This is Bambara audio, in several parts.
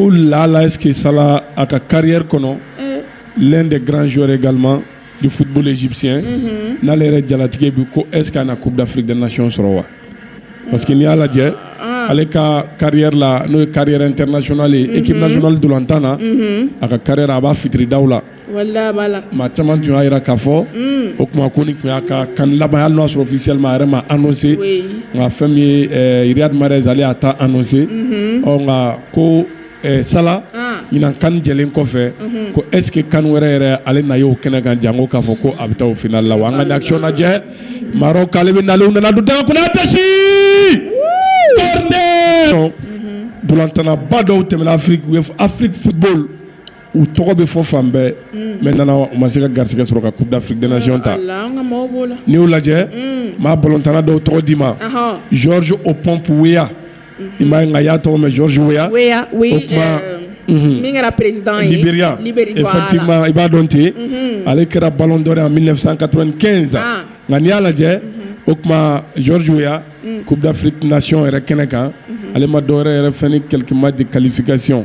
ko lalaski sa a ka kari kɔnɔ lɛn de garanransore ga i futbsi n'ale yɛrɛ jalatigɛ bɛ ko es na ko bilafidnasiyɔn sɔrɔ wa parce que n'i y'a lajɛ ale ka kari la n'o ye kari ntrsonale ekip dɔrɔn an tan na a ka kari a b'a fitiri da la maa caman tun y'a jira k'a fɔ o tuma ko nin tun y'a ka CAN laban hali n'a y'a sɔrɔ officiellement a yɛrɛ ma annoncer nka fɛn min ye Riyad Mahrez ale y'a ta annoncer ɔ nka ko Salah ɲinan CAN jɛlen kɔfɛ ko est ce que CAN wɛrɛ yɛrɛ ale na ye o kɛnɛ kan janko k'a fɔ ko a bɛ taa o final la wa an ka nin action lajɛ Maroc ale bɛ nalen u nana don daga kɔnɔ attention corner ntolatannaba dɔw tɛmɛna Afrique u ye Afrique football u tɔgɔ bɛ fɔ fan bɛɛ mɛ nana u ma se ka garisɛgɛ sɔrɔ ka kuda fdasiɔn ta n'i y'o lajɛ maa balotanana dɔw tɔgɔ d'i ma zz o pɔnpya i ma nka y'a tɔgɔ mɛ zzoya kɛra perebriya i b'a dɔn ten ale kɛra balo dɔ a mi san ka kɛ in zan nka n'i y'a lajɛ o tuma zzoya k'u bɛfinayon yɛrɛ kɛnɛ kan ale ma dɔw yɛrɛ yɛrɛ ni kɛlɛkɛma di kalifasiy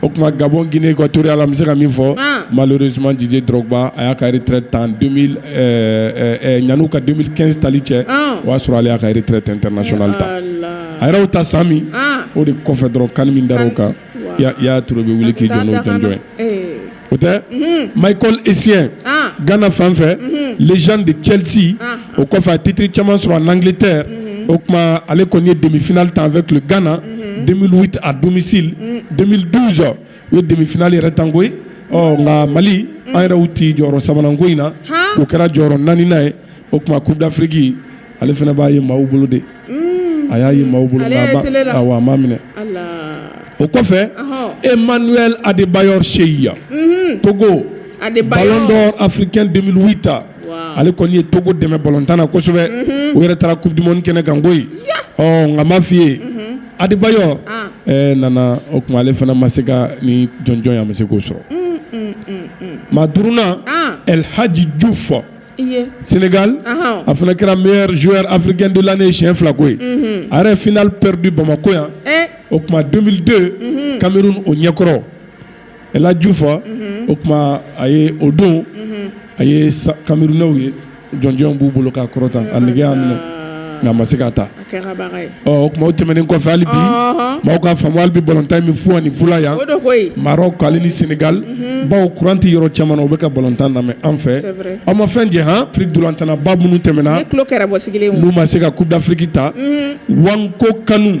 O tuma gabɔ g ka to ala bɛ se ka min fɔ mali suma dise dɔrɔnba a y'a kari tan ɲ ka den kɛ tali cɛ o y'a sɔrɔ ale'a kare tɛ tɛ nayonali ta a yɛrɛw ta sa min o de kɔfɛ dɔrɔn kan min da kan y'a tun bɛ wuli k'i jɔn jɔn o tɛ ma isi gana fanfɛ lejan de cɛti o kɔfɛ a titre caman sɔrɔ en Angleterre unhun, o tuma ale kɔni ye demi finale tan avec le Ghana unhun, 2008 à domicile unhun, 2012 u ye demi finale yɛrɛ tan koyi, ɔ nka Mali an yɛrɛ y'u ci jɔyɔrɔ sabanan ko in na, han, o kɛra jɔyɔrɔ naaninan ye, o tuma coupe d'Afrique ale fana b'a ye maaw bolo de, unn, a y'a ye maaw bolo, ale y'a ye tele la, awɔ a m'a minɛ, ala, o kɔfɛ, ɔhɔ, Emmanuel Adebayor Sheyi, unhun, Togo, Adebayor, ballon d'or africain 2008 ale kɔni ye togo dɛmɛ batan na kosɛbɛ u yɛrɛ taara kudu kɛnɛ ganko nka ma fɔi ye aliba nana o tuma ale fana ma se ka ni jɔnjɔn a ma se k'o sɔrɔ ma dna alilhaji ju fɔ sengali a fana kɛra mi z afrikɛnla ni siyɛn fila ko ye a yɛrɛ flɛre bɛ bamakɔko yan o tuma don don kamalenmeri o ɲɛkɔrɔ El Hadji Diouf unhun, o tuma a ye o don, unhun, a ye kamerunɛw ye jɔnjɔn b'u bolo k'a kɔrɔta a nege y'a minɛ nka a ma se k'a ta, a kɛra baga ye, ɔ o tuma o tɛmɛnen kɔfɛ hali bi, ɔnhɔn, maaw ka faamu hali bi balontan in bɛ fu ani fu la yan, o don koyi, Marɔku ale ni Senegali, unhun, bawo kuran tɛ yɔrɔ caman na u bɛ ka balontan lamɛn an fɛ, c'est vrai, aw ma fɛn jɛ han, Afrique ntolatannaba minnu tɛmɛna, ne tulo kɛra bɔ sigilen ye, n'u ma se ka coupe d'Afrique ta, unhun, Nwankwo Kanu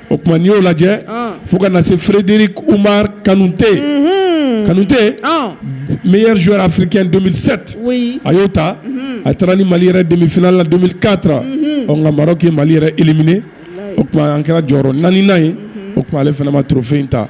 o tuma n'i y'o lajɛ fo ka na se furudri kumamari kanute kanute miyri firi kɛsɛte a y'o ta a taara ni mali yɛrɛ denmisɛnninla kata ɔ nka mara'i mali yɛrɛ imine o tuma an kɛra jɔyɔrɔ naani naani ye o tuma ale fanama tufin ta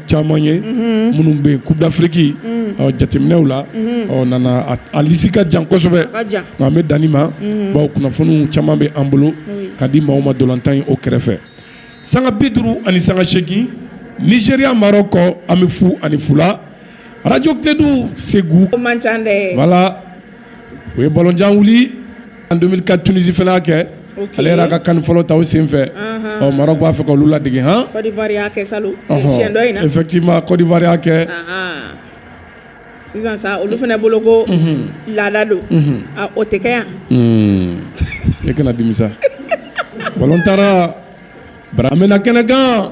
caman ye minnu bɛ Coupe d'Afrique jateminɛw la nana a lisi ka jan kosɛbɛ nka an bɛ dan nin ma bawo kunnafoniw caman bɛ an bolo ka di maaw ma ntolatan ye o kɛrɛfɛ sanga bi duuru ani sanga seegin Nigéria Maroc an bɛ fu ani fu la Radio Kledu Segu voilà u ye balojan wuli an don ka tunisifɛ kɛ ale yɛrɛ ka kan fɔlɔ ta senfɛ ɔ mara b'a fɛ ka olu lade hɔn etima kɔdifariya kɛ sisan sa olu fana bolo ko laada don o tɛ yan e kana dimisa balo taara bara an bɛna kɛnɛkan